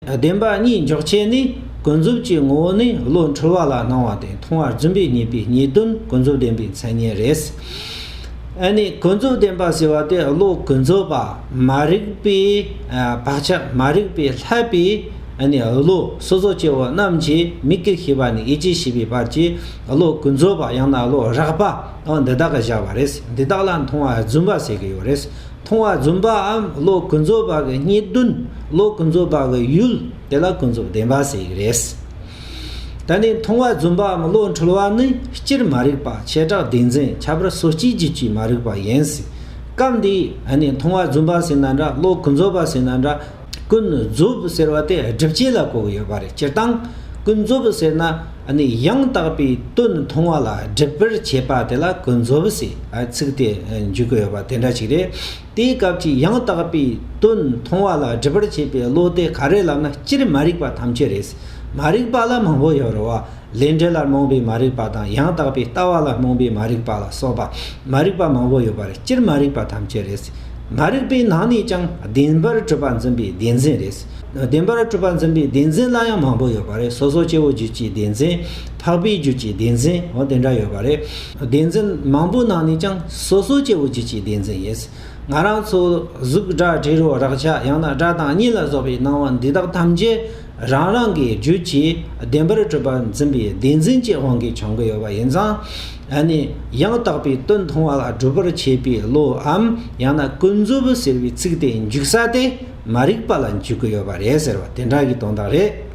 བདེན་པ་གཉིས་འཇོག་བྱེད་ནི་ཀུན་རྫོབ་ཀྱི་ངོ་བོ་ནི་བློ་འཁྲུལ་བ་ལ་སྣང་བ་དེ་མཐོང་བར་བརྫུན་པའི་ཉེས་པའི་ཉེས་དོན་ཀུན་རྫོབ་བདེན་པའི་མཚན་ཉིད་རེད། ཨ་ནི་ཀུན་རྫོབ་བདེན་པ་ཟེར་བ་དེ་བློ་ཀུན་རྫོབ་པ་མ་རིག་པའི་བག་ཆགས་མ་རིག་པའི་ལྷད་པའི་ཨ་ནི་བློ་སོ་སོ་སྐྱེ་བོ་རྣམས་ཀྱིས་མི་སྐད་ཤེས་པ་ནས་ཡིད་ཀྱིས་ཤེས་པའི་བར་གྱི་བློ་ཀུན་རྫོབ་པ་ཡང་ན་བློ་རགས་པ་འོ་འདི་དག་གི་བཞག་པ་རེད་འདི་དག་ལ་མཐོང་བ་བརྫུན་པ་ཟེར་གྱི་ཡོད་རེད། མཐོང་བ་རྫུན་པའམ་བློ་ཀུན་རྫོབ་པ་གི་རྙེད་བདུན་བློ་ཀུན་རྫོབ་པ་གི་ཡུལ་དེ་ལ་ཀུན་རྫོབ་བདེན་པ་ཟེར་གྱི་རེད། ད་ནི་མཐོང་བ་རྫུན་པའམ་བློ་འཁྲུལ་བ་ནི་སྤྱིར་མ་རིག་པ་བྱེ་བྲག་བདེན་འཛིན་ཁྱད་པར་སོ་གཅིག་གྱི་སྤྱིའི་མ་རིག་པ་ཡིན། སྐབས་འདིའི་མཐོང་བ་རྫུན་པ་ཟེར་ན་འདྲ་བློ་ཀུན་རྫོབ་པ་ཟེར་ན་འདྲ་ཀུན་རྫོབ་ཟེར་བ་དེ་སྒྲིབ་བྱེད་ལ་གོ་བ་ཡོད་པ་རེད་སྤྱིར་བཏང་ཀུན་རྫོབ་ཟེར་ན་ནི་ཡང་དག་པའི་དོན་མཐོང་བ་ལ་སྒྲིབ་པར་བྱེད་པ་དེ་ལ་ཀུན་རྫོབ་ཟེར་ཚིག་དེ་འཇུག་གི་ཡོད་པ་དེ་འདྲ་ཞིག་རེད། དེའི་སྐབས་ཀྱི་ཡང་དག་པའི་དོན་མཐོང་བ་ལ་སྒྲིབ་པར་བྱེད་པའི་བློ་དེ་ག་རེ་ལབ་ན་སྤྱིར་མ་རིག་པ་ཐམས་ཅད་རེད། མ་རིག་པ་ལ་མང་པོ་ཡོད་རེད་བ། ལས་འབྲས་ལ་རྨོངས་པའི་མ་རིག་པ་དང་ཡང་དག་པའི་ལྟ་བ་ལ་རྨོངས་པའི་མ་རིག་པ་ལ་སོགས་པ་མ་རིག་པ་མང་པོ་ཡོད་པ་རེད་སྤྱིར་མ་རིག་པ་ཐམས་ཅད་རེད། མ་རིག་པའི་ནང་ནས་ཀྱང་བདེན་པར་གྲུབ་པ་འཛིན་པའི་བདེན་འཛིན་རེད། བདེན་པར་གྲུབ་པ་འཛིན་པའི་བདེན་འཛིན་ལ་ཡང་མང་པོ་ཡོད་པ་རེད་སོ་སོ་སྐྱེ་བོ་རྒྱུད་ཀྱི་བདེན་འཛིན། འཕགས་པའི་རྒྱུད་ཀྱི་བདེན་འཛིན་འོ་དེ་འདྲ་ཡོད་པ་རེད། བདེན་འཛིན་མང་པོའི་ནང་ནས་ཀྱང་སོ་སོ་སྐྱེ་བོ་རྒྱུད་ཀྱི་བདེན་འཛིན་ཡིན། ང་རང་ཚོ་གཟུགས་སྒྲ་དྲི་རོ་རེག་བྱ་ཡང་ན་སྒྲ་དང་གཉིད་ལ་སོགས་པའི་སྣང་བ་འདི་དག་ཐམས་ཅད། རང་རང་གི་རྒྱུད་ཀྱི་བདེན་པར་སྤྲོས་པ་འཛིན་པའི་བདེན་འཛིན་གྱི་དབང་གིས་བྱུང་གི་ཡོད་པ་ཡིན་ཙང། ད་ནི་ཡང་དག་པའི་དོན་མཐོང་བ་ལ་སྒྲུབ་པར་བྱེད་པའི་བློའམ་ཡང་ན་ཀུན་རྫོབ་ཟེར་བའི་ཚིག་དེ་འཇུག་ས་དེ་མ་རིག་པ་ལ་འཇུག་གི་ཡོད་པ་རེད་ཟེར་བ་དེ་འདྲ་ཞིག་དོན་དག་རེད།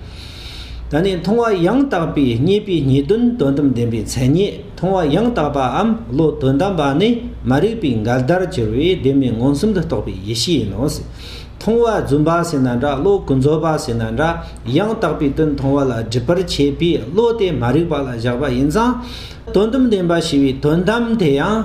ད་ནི་མཐོང་བ་ཡང་དག་པའི་རྙེད་པའི་ངེས་དོན་དོན་དམ་བདེན་པའི་མཚན་ཉིད་མཐོང་བ་ཡང་དག་པའམ་བློ་དོན་དམ་པ་ནི་མ་རིག་པའི་འགལ་ཟླར་གྱུར་བའི་བདེན་མེད་མངོན་སུམ་དུ་རྟོགས་པའི་ཡེ་ཤེས་ཡིན་ནོ། མཐོང་བ་བརྫུན་པ་ཟིན་ན་འདྲ་བློ་ཀུན་རྫོབ་པ་ཟིན་ན་འདྲ་ཡང་དག་པའི་དོན་མཐོང་བ་ལ་སྒྲིབ་པར་བྱེད་པས་བློ་དེ་མ་རིག་པ་ལ་བཞག་པ་ཡིན་ཙང། དོན་དམ་བདེན་པ་ཞི་བའི་དོན་དམ་དེ་ཡང་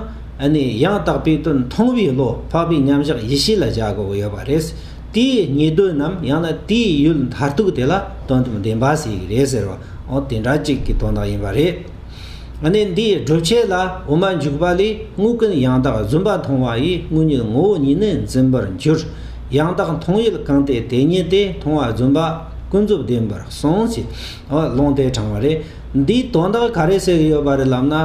ནི་ཡང་དག་པའི་དོན་མཐོང་བའི་བློ་འཕགས་པའི་མཉམ་གཞག་ཡེ་ཤེས་ལ་བཞག་དགོས་ཡོད་པ་རེད། དེའི་ཉེས་དོན་ནམ་ཡང་ན་དེའི་ཡུལ་མཐར་ཐུག་དེ་ལ་དོན་དམ་བདེན་པ་ཟེར་གྱི་རེད་ཟེར་བའང་དེ་འདྲ་གཅིག་གི་དོན་དག་ཡིན་པ་རེད། གནས་འདིའི་སྒྲུབ་བྱེད་ལ་འོ་མ་འཇུག་པ་ལས་དངུལ་ཀུན་ཡང་དག་བཟུང་པ་མཐོང་བ་ཡིས་དངུལ་ཉིད་ངོ་བོ་ཉིད་ནི་འཛིན་པར་འགྱུར། ཡང་དག་མཐོང་ཡུལ་གང་སྟེ་དེ་ཉིད་དེ་མཐོང་བ་བཟུང་པ་ཀུན་རྫོབ་བདེན་པར་གསུངས་ཞེས་ལུང་དེ་དྲང་བ་རེད། འདིའི་དོན་དག་ག་རེ་ཟེར་ཡོད་པ་རེད་ལབ་ན།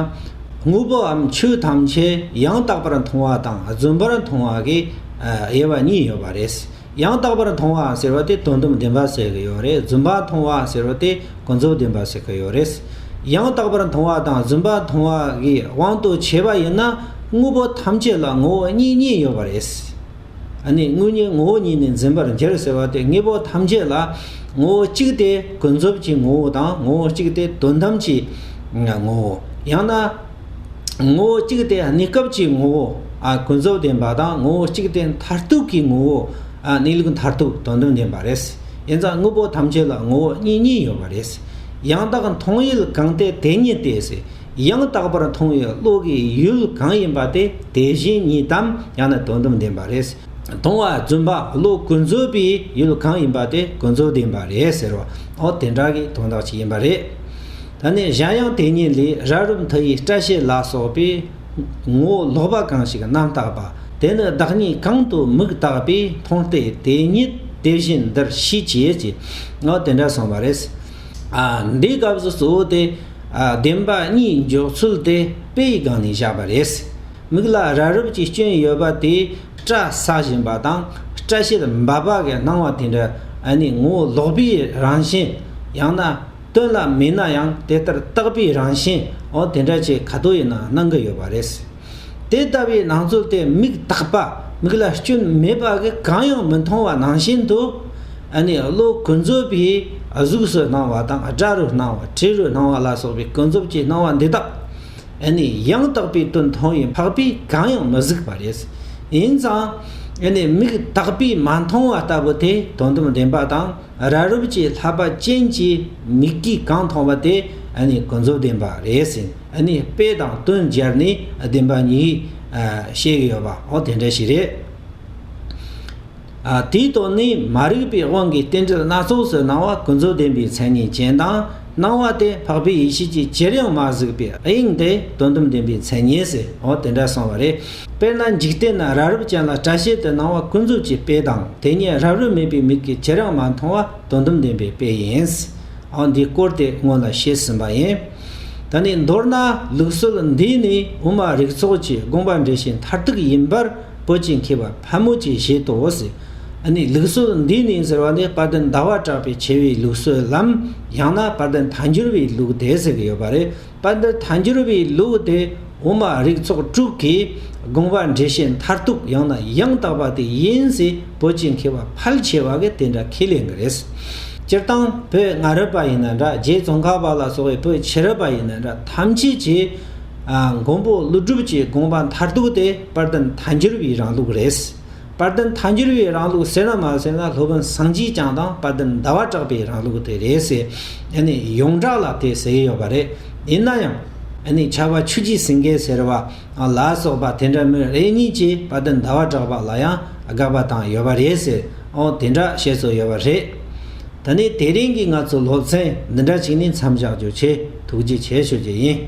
དངོས་པོའམ་ཆོས་ཐམས་ཅད་ཡང་དག་པར་མཐོང་བ་དང་བཟུང་བར་མཐོང་བ་གི་དབྱེ་བ་གཉིས་ཡོད་པ་རེད། ཡང་དག་པར་མཐོང་བ་ཟེར་བ་དེ་དོན་དུམ་བདེན་པ་ཟེར་གི་ཡོད་རེད་བརྫུན་པ་མཐོང་བ་ཟེར་བ་དེ་ཀུན་རྫོབ་བདེན་པ་ཟེར་གི་ཡོད་རེད། ཡང་དག་པར་མཐོང་བ་དང་བརྫུན་པ་མཐོང་བ་གི་དབང་དུ་བྱས་པ་ཡིན་ན་དངོས་པོ་ཐམས་ཅད་ལ་ངོ་བོ་གཉིས་གཉིས་ཡོད་པ་རེད། ཨ་ནི་དངོས་གཉིས་ངོ་བོ་གཉིས་ནི་འཛིན་པར་འགྱུར་ཟེར་བ་དེ་དངོས་པོ་ཐམས་ཅད་ལ་ངོ་བོ་གཅིག་སྟེ་ཀུན་རྫོབ་ཀྱི་ངོ་བོ་དང་ངོ་བོ་གཅིག་སྟེ་དོན་དམ་གྱི་ངོ་བོ། ཡང་ན། ངོ་བོ་གཅིག་སྟེ་གནས་སྐབས་ཀྱི་ངོ་བོ་ཀུན་རྫོབ་བདེན་པ་དང་ངོ་བོ་གཅིག་སྟེ་མཐར་ཐུག་གི་ངོ་བོ་གནས་ལུགས་མཐར་ཐུག་དོན་དམ་བདེན་པ་རེད། ཡིན་ཙང་དངོས་པོ་ཐམས་ཅད་ལ་ངོ་བོ་གཉིས་གཉིས་ཡོད་པ་རེད། ཡང་དག་མཐོང་ཡུལ་གང་སྟེ་དེ་ཉིད་དེ། ཡང་དག་པར་མཐོང་བའི་བློ་གི་ཡུལ་གང་ཡིན་པ་སྟེ་དེ་བཞིན་ཉིད་དམ་ཡང་ན་དོན་དམ་བདེན་པ་རེད། མཐོང་བ་བརྫུན་པ་བློ་ཀུན་རྫོབ་པའི་ཡུལ་གང་ཡིན་པ་སྟེ་ཀུན་རྫོབ་བདེན་པ་རེད་ཟེར་བ་འོ་དེ་འདྲ་གི་དོན་དག་ཅིག་ཡིན་པ་རེད། ད་ནི་གཞན་ཡང་དེ་ཉིད་ལས་ར་རུ་མཐུ་ཡིས་སྐྲ་ཤད་ལ་སོགས་པའི། ངོ་བོ་ལོག་པ་གང་ཞིག་རྣམ་བརྟགས་པ། དེ་ནི་བདག་ཉིད་གང་དུ་མུག་བརྟགས་པས་མཐོང་སྟེ་དེ་ཉིད་དེ་བཞིན་འདིར་ཤེས་བྱེད་ཀྱི། ངོ་དེ་འདྲ་གསུངས་པ་རེད། འདིའི་སྐབས་སུ་གཙོ་བོ་དེ། བདེན་པ་གཉིས་འཇོག་ཚུལ་དེ་དཔེ་ཡི་སྒང་ནས་བཞག་པ་རེད། མིག་ལ་ར་རུབ་ཀྱི་སྐྱོན་ཡོད་པ་དེས་སྐྲ་ཟགས་བཞིན་པ་དང་སྐྲ་ཤད་འབབ་པ་གི་སྣང་བ་དེ་འདྲ་ནི་ངོ་བོ་ལོག་པའི་རང་བཞིན། ཡང་ན། སྟོན་ལ་མིན་ན་ཡང་དེ་ལྟར་བརྟག་པའི་རང་བཞིན་འོ་དེ་འདྲ་ཅིག་ག་དུས་ཡིན་ན་སྣང་གི་ཡོད་པ་རེད། དེ་ལྟ་བུའི་སྣང་ཚུལ་དེ་མིག་དག་པ་མིག་ལ་སྐྱོན་མེད་པ་གིས་གང་ཡང་མི་མཐོང་བ་ནང་བཞིན་དུ། ཨ་ནི་བློ་ཀུན་རྫོབ་པའི་གཟུགས་སུ་སྣང་བ་དང་སྒྲ་རུ་སྣང་བ་དྲི་རུ་སྣང་བ་ལ་སོགས་པའི་ཀུན་རྫོབ་ཀྱི་སྣང་བ་འདི་དག་ཨ་ནི་ཡང་དག་པའི་དོན་མཐོང་བའི་འཕགས་པས་གང་ཡང་མི་གཟིགས་པ་རེད། ཡིན་ཙང་ཨ་ནི་མིག་དག་པས་མ་མཐོང་བ་ལྟ་བུ་དེ་དོན་དམ་བདེན་པ་དང། ར་རུབ་ཀྱི་ལྷ་པ་ཅན་གྱི་མིག་གིས་གང་མཐོང་བ་དེ་ནི་ཀུན་རྫོབ་བདེན་པ་རེད་ཟེར་ནས་དཔེ་དང་བསྟུན་སྦྱར་ནས་བདེན་པ་ཉིད་བཤད་གི་ཡོད་པའང་དེ་འདྲ་ཞིག་རེད། དེའི་དོན་ནི་མ་རིག་པའི་དབང་གིས་རྟེན་འབྲེལ་སྣ་ཚོགས་སུ་སྣང་བ་ཀུན་རྫོབ་བདེན་པའི་མཚན་ཉིད་ཅན་དང། སྣང་བ་དེ་འཕགས་པའི་ཡེ་ཤེས་ཀྱི་ཅིར་ཡང་མ་གཟིགས་པའི་དབྱིངས་ཏེ་དོན་དམ་བདེན་པའི་མཚན་ཉིད་ཟེར་འོ་དེ་འདྲ་གསུངས་བ་རེད། དཔེར་ན་འཇིག་རྟེན་ན་ར་རབ་ཅན་ལ་སྐྲ་ཤད་དེ་སྣང་བ་ཀུན་རྫོབ་ཀྱི་དཔེ་དང་དེ་ཉིད་རབ་རིབ་མེད་པའི་མིག་གིས་ཅིར་ཡང་མ་མཐོང་བ་དོན་དམ་བདེན་པའི་དཔེ་ཡིན། འོ་འདིའི་སྐོར་དེ་སྔོན་ལ་བཤད་ཟིན་པ་ཡིན། ད་ནི་མདོར་ན་ལུགས་སྲོལ་འདི་ནི་དབུ་མ་རིགས་ཚོགས་ཀྱི་དགོངས་པ་འགྲེལ་བྱེད་མཐར་ཐུག་ཡིན་པར། པོ་ཅི་མཁས་པ་ཕལ་མོ་ཆེས་བཞེད་དོ། ཨ་ནི་ལུགས་སྲོལ་འདི་ནི་ཟེར་བ་ནི་དཔལ་ལྡན་ཟླ་བ་གྲགས་པའི་ཆེ་བའི་ལུགས་སྲོལ་ལམ་ཡང་ན་དཔལ་ལྡན་ཐཱན་འགྱུར་བའི་ལུགས་དེ་ཟེར་གྱི་ཡོད་པ་རེད། དཔལ་ལྡན་ཐཱན་འགྱུར་བའི་ལུགས་དེ་འོག་མ་རིགས་ཚོགས་དྲུག་གི་དགོངས་པ་འགྲེལ་བཤད་མཐར་ཐུག་ཡང་ན་ཡང་དག་པ་དེ་ཡིན་ཟེར་པོ་ཅི་མཁས་པ་ཕལ་ཆེ་བ་གིས་དེ་འདྲ་ཁས་ལེན་གྱི་རེད། སྤྱིར་བཏང་བོད་སྔ་རབས་པ་ཡིན་ན་འདྲ་རྗེ་ཙོང་ཁ་པ་ལ་སོགས་བའི་བོད་ཕྱི་རབས་པ་ཡིན་ན་འདྲ་ཐམས་ཅད་ཀྱིས་མགོན་པོ་ཀླུ་སྒྲུབ་ཀྱི་དགོངས་པ་མཐར་ཐུག་དེ། དཔལ་ལྡན་མཐའ་འགྱུར་བའི་རང་ལུགས་རེད། དཔལ་ལྡན་མཐའ་འགྱུར་བའི་རང་ལུགས་ཟེར་ན་མ་ཟེར་ན་སློབ་དཔོན་སངས་རྒྱས་བསྐྱངས་དང་དཔལ་ལྡན་ཟླ་བ་གྲགས་པའི་རང་ལུགས་དེ་རེད་ཟེར། ཡང་ནི་ཡོངས་གྲགས་ལ་དེ་ཟེར་ཡོད་པ་རེད། ཡིན་ན་ཡང། ཡང་ནི་ཆར་བ་ཆུ་སྐྱེས་ཟིང་གེ་ཟེར་བ། ལ་སོགས་པ་དེ་འདྲ་མོད་རེ་གཉིས་ཀྱིས་དཔལ་ལྡན་ཟླ་བ་གྲགས་པ་ལ་ཡང་དགག་པ་དང་ཡོད་པ་རེད་ཟེར། ཨོ་དེ་འདྲ་བཤད་སྲོལ་ཡོད་པ་རེད། ད་ནི་དེ་རིང་གི་ང་ཚོ་སློབ་ཚན་འདི་འདྲ་ཞིག་ནི་མཚམས་བཞག་རྒྱུ་ཆེ་ཐུགས་རྗེ་ཆེ་ཞུ་རྒྱུ་ཡིན།